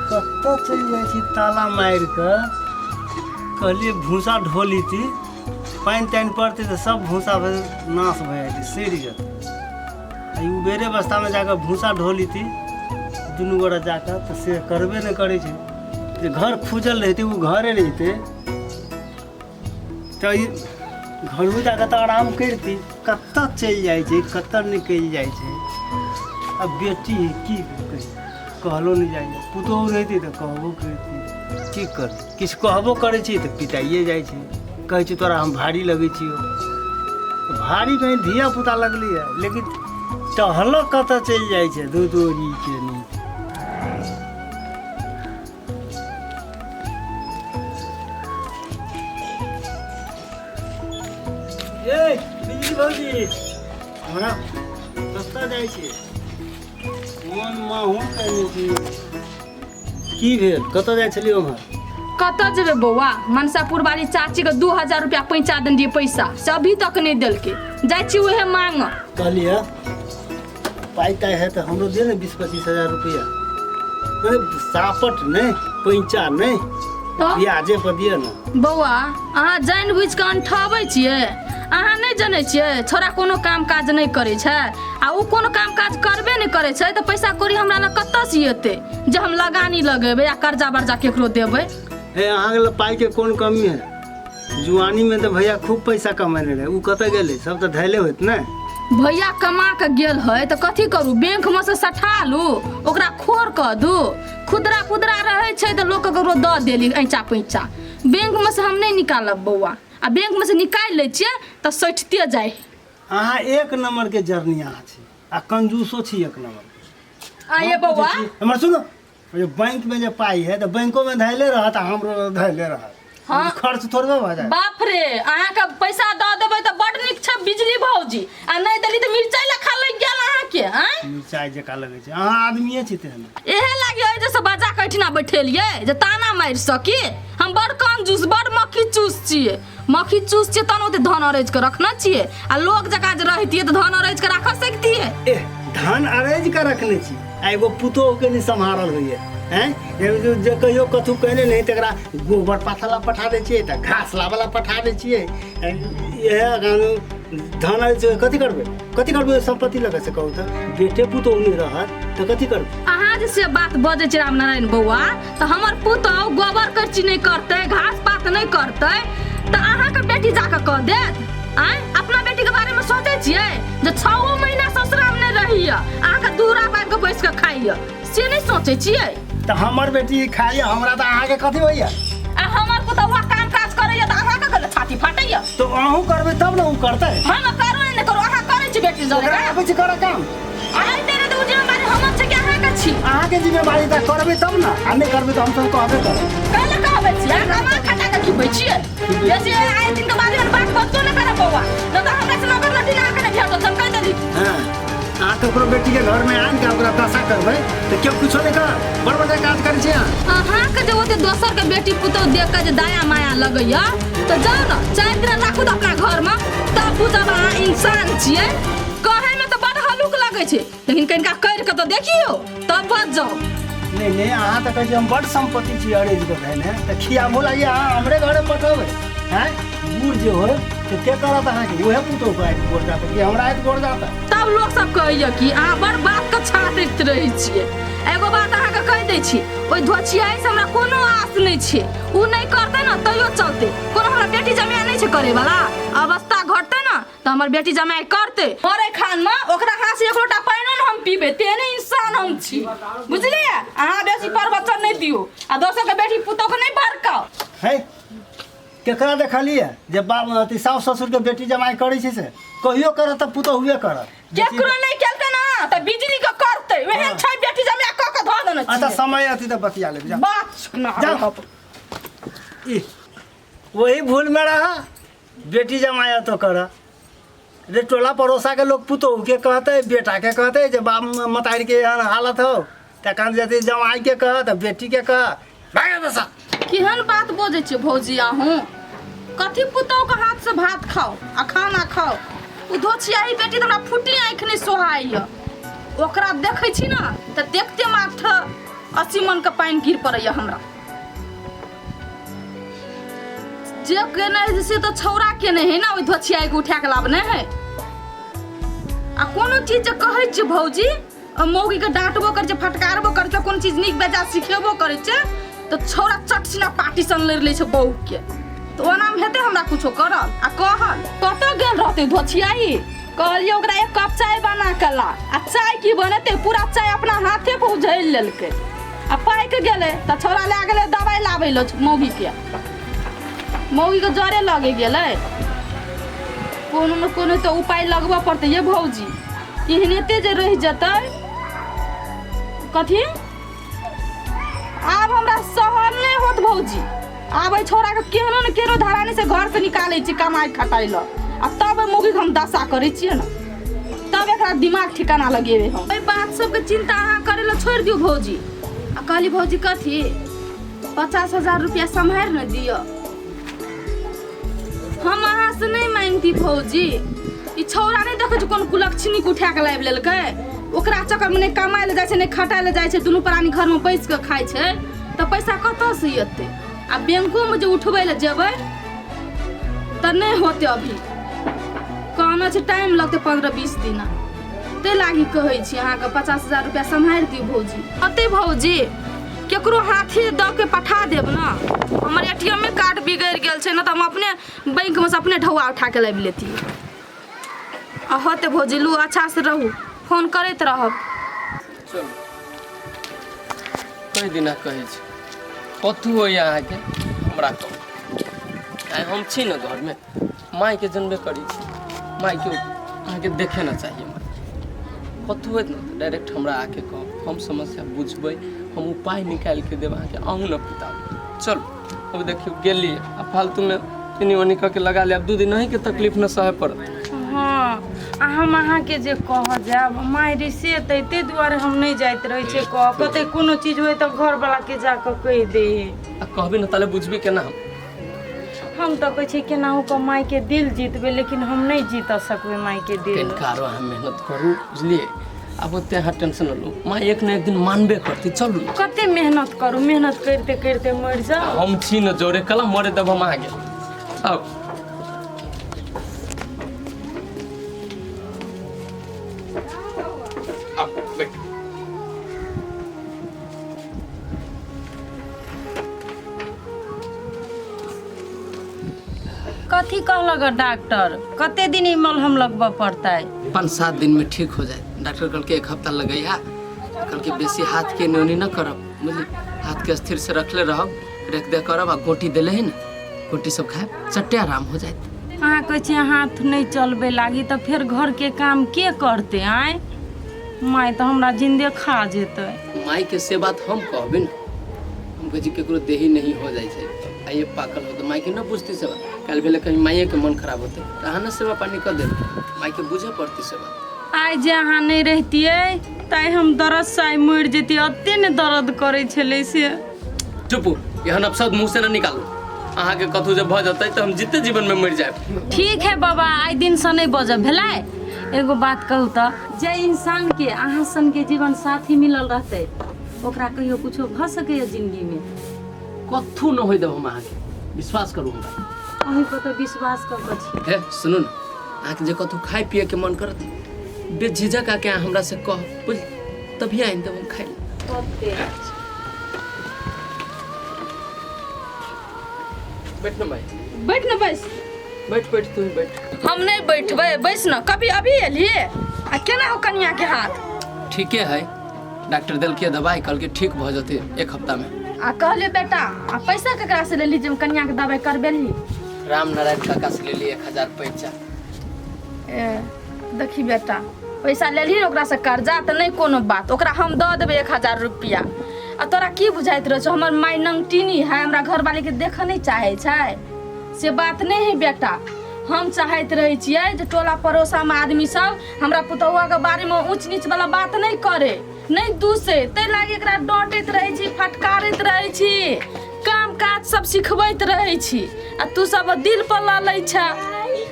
कतऽ चलि जाइ छी ताला मारि कऽ कहलियै भूसा ढो लीती पानि तानि पड़तै तऽ सब भूसा भए- नाश भए जेतै सड़ि जेतै आ ई उबेरे अवस्थामे जाकऽ भूसा ढो लीती दुनू गोरा जाकऽ तऽ से करबे नहि करै छै जे घर खुजल रहितै ओ घरे रहितै तऽ ई घरो जाके तऽ आराम करिती कतऽ चलि जाइ छै कतऽ निकलि जाइ छै आ बेटी है की कही कहलो नहि जाइ छै पुतोहु रहिती तऽ कहबो करती की कर किछु कहबो करै छी तऽ पिटाइए जाइ छै कहै छै तोरा हम भारी लगै छियौ तऽ भारी कहीं धिया पुता लगली है लेकिन टहलऽ कतऽ चलि जाइ छै दू दूरी के नीचे हमरा सस्ता जाइ छै मोन माहून कयने छी की भेल कतऽ जाइ छलियै ओम्हर कतऽ जेबै बौआ मनसापुर वाली चाचीके दू हजार रुपया पैंचा देने रहियै पैसा से अभी तक नहि देलकै जाइ छी उहे मांगऽ कहलियै पाइ ताइ है तऽ हमरो दे ने बीस पच्चीस हजार रुपैआ अरे सापट नहि पैंचा नहि तऽ ब्याजे पर दिअ ने बौआ अहाँ जानि बुझि कऽ अंठाबै छियै अहाँ नहि जनै छियै छोरा कोनो काम काज नहि करै छै आ ओ कोनो काम काज करबे नहि करै छै तऽ पैसा कौड़ी हमरा लग कतऽसँ एतै जे हम लगानी लगेबै आ कर्जा बर्जा केकरो देबै हे अहाँके लग पाइके कोन कमी है जुआनी में तो भैया खूब पैसा कमेने रहे उ कत गेले सब तो धैले होत ने भैया कमा के गेल है तो कथी करू बैंक में से सठा लू ओकरा खोर कऽ दू खुदरा खुदरा रहै छै तऽ लोक ककरो दऽ देली ऐँचा पैँचा बैंक में से हम नहि निकालब बौआ आ बैंक में से निकालि लै छियै तऽ सठिते जाइ अहाँ एक नंबर के जर्नी अहाँ छी आ कंजूसो छी एक नंबर के। आये बौआ हमर सुनो जे बैंकमे जे पाइ हइ तऽ बैंकोमे धैले रहत आ हमरो धैले रहत हाँ। खर्च थोड़बे भऽ जायत बाप रे अहाँके पैसा दऽ देबै तऽ बड नीक छै बिजली भौजी आ नहि देली तऽ मिरचाइ लए खा लागि गेल अहाँके आँय मिरचाइ जकाँ लगै छै अहाँ आदमिए छी तेहन एहे लागी एहि जैसे बजा के एहिठिना बैठेलियै जे ताना मारि सकी हम बड़ कंजूस बड़ मक्खी चूस छियै मक्खी चूस छियै तहन ओते धन अरैज के रखने छियै आ लोक जकाँ जे रहितियै तऽ धन अरैज के राखऽ सकतियै एह धान अरेज के रखने छी आ एगो पुतोह के नहि सम्हारल होइए हैं एगो जे- जे कहियो कथू कहने नहि तकरा गोबर पाथा ला पठा दै छियै तऽ घास लाबऽ ला पठा दै छियै ए, इएह अगर धान अरेज के कथी करबै कथी करबै ओहि सम्पत्ति लऽ कऽ से कहू तऽ बेटे पुतोह नहि रहत तऽ कथी करबै अहाँ जे से बात बजै छै रामनारायण बौआ तऽ हमर पुतहु गोबर करची नहि करतै घास पात नहि करतै तऽ अहाँके बेटी जाकऽ कह देत आँय अपना बेटीके बारेमे सोचै छियै जे छओ महीना ससुरामे नहि रहैए अहाँके दूरा बाबि कऽ बैस कऽ खाइए से नहि सोचै छियै तऽ हमर बेटी खाइए हमरा तऽ अहाँके कथी होइए आ हमर पुतहुआ काम काज करैए तऽ अहाँके गले छाती फाटैए तऽ अहूँ करबै तब ने ओ करतै हम करू नहि करू अहाँ करै छी बेटी जरे ओकरा आबै छै करऽ काम अहाँ तेरे दू जिम्मेदारी हमर छै कि अहाँके छी अहाँके जिम्मेवारी तऽ करबै तब ने आ नहि करबै तऽ हमसभ कहबे करब काल्हि कहबै छी अहाँ कमा खटा कऽ खिबै छियै बेसी आए दिन के बारे मे बात बच्चो नहि करब बौआ नहि तऽ हमरा से नौकर लड़की अहाँके नहि भेटत हम कहि देली हँ अहाँ ककरो बेटीके घरमे आनि कऽ ओकरा दशा करबै तऽ केओ किछो नहि करत बड़ बढ़िआँ काज करै छी अहाँ अहाँके जे ओते दोसर के बेटी पुतौह देख कऽ जे दया माया लगैया तऽ जाउ ने चारि दिन राखू तऽ अपना घरमे तब बुझब अहाँ इंसान छियै कहे में तो बड़ हलुक लगे छे लेकिन कनिका कर के तो देखियो तब बच जाओ नहीं नहीं अहाँ तो कहै छी हम बड सम्पत्ति छी अरेज के भाइ ने तऽ खियाबो लागि अहाँ हमरे घरे पठबै हैं बूढ़ जे होय तऽ के करत अहाँके उहे पुतौ के आइत गोर जात कि हमरा आइत गोर जात तब लोग सब कहैया कि अहाँ बड़ बात के छाटैत रहै छियै एगो बात अहाँके कहि दै छी ओहि धोछियाइ से हमरा कोनो आस नहि छै ओ नहि करतै ने तैयो चलतै कोनो हमरा बेटी जमाय नहि छै करैवला अवस्था घटतै ने त हमर बेटी जमाई करते मरे खान में ओकरा हाथ से एक लोटा पानियो न हम पीबे तेहने इंसान हम छी बुझलिए अहाँ बेसी प्रवचन नहीं दियो आ दोसर के बेटी पुतोह के नहीं भड़काओ है केकरा देखलिए जे बाप अथी साउस ससुर के बेटी जमाई करै छै से कहियो करत त पुतोह हुए करत केकरो नहीं केलते ना त बिजली के करते हाँ। वहे छै बेटी जमाई क के ध देने अच्छा छी समय अथी त बतिया लेब जा बात ना जा। ई वही भूल में रहा बेटी जमाया तो कर रे टोला पड़ोसा के लोग पुतोह के कहते बेटा के कहते जे बाप मतारी के एहन हालत हो तऽ कान जते जमाई के कह तऽ बेटी के कह भागे बसा केहन बात बजै छियै भौजी अहूँ कथी पुतौहके हाथसँ भात खाउ आ खाना खाउ ओ धोछियाही बेटी तऽ हमरा फुटी आँखि नहि सोहाइए ओकरा देखै छी ने तऽ देखते मात्र अस्सी मनके पानि गिर पड़ैए हमरा जे केने है से तो छौरा केने है ना ओहि धोछिया के उठा के लाबने है आ कोनो चीज जे कहै छै भौजी आ मौगी के डांटबो कर छै फटकारबो कर छै कोनो चीज नीक बेजा सिखेबो कर छै तो छौरा चटसिना पार्टी सन लड़ ले छै बहू के तो ओना में हेते हमरा कुछो करल आ कहल कतऽ गेल रहते धोछियाई कहलिए ओकरा एक कप चाय बना के ला आ चाय की बनते पूरा चाय अपना हाथे पर उझैल लेलकै आ पाइक गेलै तऽ छोरा लए गेलै दवाइ लाबै लए मौगीके मौगीके जरे लगे गेलै कोनो ने कोनो तऽ उपाय लगबऽ पड़तै ये भौजी एहनेते जे रहि जेतै कथी आब हमरा सहन नहि होत भौजी आब एहि छोड़ाके केहनो ने केहनो धरानी से घर से निकालै छी कमाइ खटाइ लऽ आ तब एहि मौगीके हम दशा करै छियै ने तब एकरा दिमाग ठिकाना लगेबै हम एहि बात सबके चिन्ता अहाँ करै लए छोड़ि दियौ भौजी आ कहली भौजी कथी पचास हजार रुपया सम्हारि ने दिअ हम अहाँ से नहीं मांगती भौजी ई छौरा नहीं देखे छी कोन कुलक्षणी के उठा के लाइब लेलकै ओकरा चक्कर में नहीं कमाए ले जाए छै नहीं खटाए ले जाए छै दुनू प्राणी घर में बैस के खाए छै तो पैसा कतऽ से एतै आ बैंको में जे उठबै ले जेबै तऽ नहीं होते अभी कहना छै टाइम लगतै पंद्रह बीस दिना ते लागी कहै छी अहाँके पचास हजार रुपया सम्हारि दियौ भौजी अते भौजी केकरो हाथी दऽ के पठा देब ने हमर ए टी एमे कार्ड बिगड़ि गेल छै ने तऽ हम अपने बैंकमे से अपने ढौआ उठा के लाबि लेती आ होते भौजिलू अच्छा से रहू फोन करैत रहब चलू कई दिना कहै छी कथू होइए अहाँके हमरा कहू आइ हम छी ने घरमे माय के जनबे करी छी माय के अहाँ के देखे ना चाहिए माय कतहु होइत ने तऽ डायरेक्ट हमरा आके कहब हम समस्या बुझबै हम उपाय निकालि के देब अहाँके अहूँ ने पिता चल अब देखियौ गेलियै आ फालतूमे एनी ओनी कऽ के लगा लेब दू दिन अहीँके तकलीफ ने सहय पड़त हाँ आ हम अहाँके जे कह जायब माय रिसे एतै ताहि दुआरे हम नहि जाइत रहै छियै कह कतै कोनो चीज होय तऽ घरवला के जाकऽ कहि दे आ कहबी ने ताले बुझबी केना हम हम तऽ कहै छी केनाहू कऽ मायके दिल जीतबै लेकिन हम नहि जीत सकबै मायके दिल कनिकारो अहाँ मेहनत करू बुझलियै आब ओते अहाँ टेंशन न लू माँ एक ने एक दिन मानबे करती चलू कते मेहनत करू मेहनत करिते करिते मरि जाओ हम छी न जोरे कला मरे तब हम आगे आउ आउ, बैठ। कथी कहलक हँ डॉक्टर कते दिन ई मलहम लगबऽ पड़तै पाँच सात दिन में ठीक हो जाए डॉक्टर कल के एक हफ्ता लगैया कल के बेसी हाथ के नोनी न करब बुझली हाथ के स्थिर से रखले रहब रेख दे करब आ गोटी देले है ना गोटी सब खाए चट्टे आराम हो जाए अहाँ कहै छियै हाथ नहि चलबे लागी तऽ फेर घरके काम के करतै आँय माय तऽ हमरा जिन्दे खा जेतै माई के से बात हम कहबे न बुझि केकरो देही नहीं हो जाइ छै आ ये पाकल हो तऽ मायके न बुझती सेवा काल्हि भेलै कहीं मायेके मन खराब होतै तऽ अहाँ ने सेवा पानी कऽ देब मायके बुझे पड़ती सेवा आइ जे अहाँ नहि रहितियै ताइ हम दर्दसँ आइ मरि जैतियै एते ने दर्द करै छलै से चुप एहन अपशब्द मुँह से न निकालू अहाँके कतहु जे भऽ जेतै तऽ हम जीते जीवनमे मरि जायब ठीक है बाबा आइ दिनसँ नहि बजब भेलै एगो बात कहू तऽ जे इंसानके अहाँ सनके जीवन साथी मिलल रहतै ओकरा कहियो कुछो भऽ सकैए जिन्दगीमे कथू न होय देब हम अहाँके विश्वास करू हमरा अहीं पर तऽ विश्वास कऽ कऽ छी हे सुनू ने अहाँके जे कतहु खाय पियैके मन करत बेझिझक आके अहाँ हमरा से कह बुझ तभी आनि देब हम खाय लए कते अच्छा बैठ न भाई बैठ न बैस बैठ बैठ तू ही बैठ हम नहीं बैठबै बैस न कभी अभी एलिए आ केना हो कनिया के हाथ ठीके है डॉक्टर देलकै दवाई कहलकै ठीक भऽ जेतै एक हफ्ता में आ कहले बेटा आ पैसा केकरा से लेली जब कन्या के दवाई करबेली राम नारायण काका से लेली एक हजार पैसा ए देखी बेटा पैसा लेली ओकरा से कर्जा तऽ नहि कोनो बात ओकरा हम दऽ देबै एक हजार रुपया आ तोरा की बुझाइत रहै छौ हमर माय नंगटिनी है हमरा घरवाली के देखऽ नहि चाहै छै से बात नहि है बेटा हम चाहैत रहै छियै जे टोला पड़ोसामे आदमी सब हमरा पुतौआ के बारे में ऊंच नीच वाला बात नहीं करे नहीं दूसे ते लागे एकरा डांटैत रहे छी फटकारैत रहे छी काम काज सब सिखबैत रहे छी आ तू सब दिल पर ला लै छ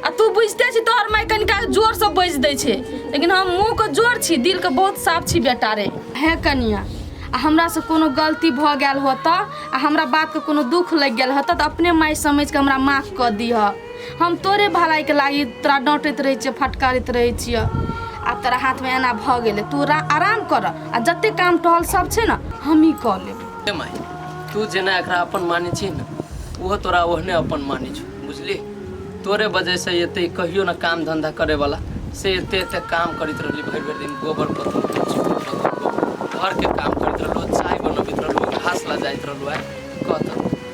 आ तू बुझते छी तोहर माय कनिका जोर से बज दै छै लेकिन हम मुंह के जोर छी दिल के बहुत साफ छी बेटा रे हे कनिया आ हमरा से कोनो गलती भऽ गेल होत आ हमरा बात के कोनो दुख लागि गेल होत तऽ अपने माय समझ के हमरा माफ कऽ दिह हम तोरे भलाई के लागी तोरा डांटैत रहे छियै फटकारैत रहे छियै आब तोरा हाथ में एना भ गेले तू रा- आराम कर आ जते काम टहल सब छै ना हम ही क लेब हे माय तू जेना एकरा अपन माने छी ने ओहो तोरा ओहने अपन माने छौ बुझली तोरे वजह से एते कहियो ना काम धंधा करे वाला से एते एते काम करैत रहली भरि भरि दिन गोबर पत्थर कुर्सी पर पत्थर पर। घर के काम करैत रहलो चाय बनबैत रहलो घास ला जाइत रहलो है कहत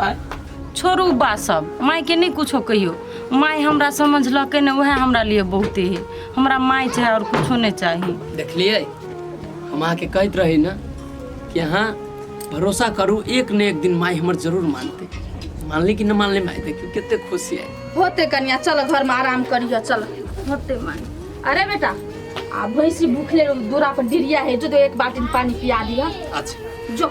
आ छोड़ू बा सब मायके नहि कुछो कहियो माय हमरा समझलकै ने उएह हमरा लिए बहुते है हमरा माय चाहे आओर कुछो नहि चाही देखलिए हम अहाँके कहैत रही ना कि अहाँ भरोसा करू एक ने एक दिन माय हमर जरूर मानते मानली कि न मानली माय देखियो कते खुशी है होते कनिया चल घर में आराम करियो चल होते माय अरे बेटा आ भैंसी भूखले दूरा पर डिरिया है जो तो एक बाल्टी पानी पिया दिया अच्छा जो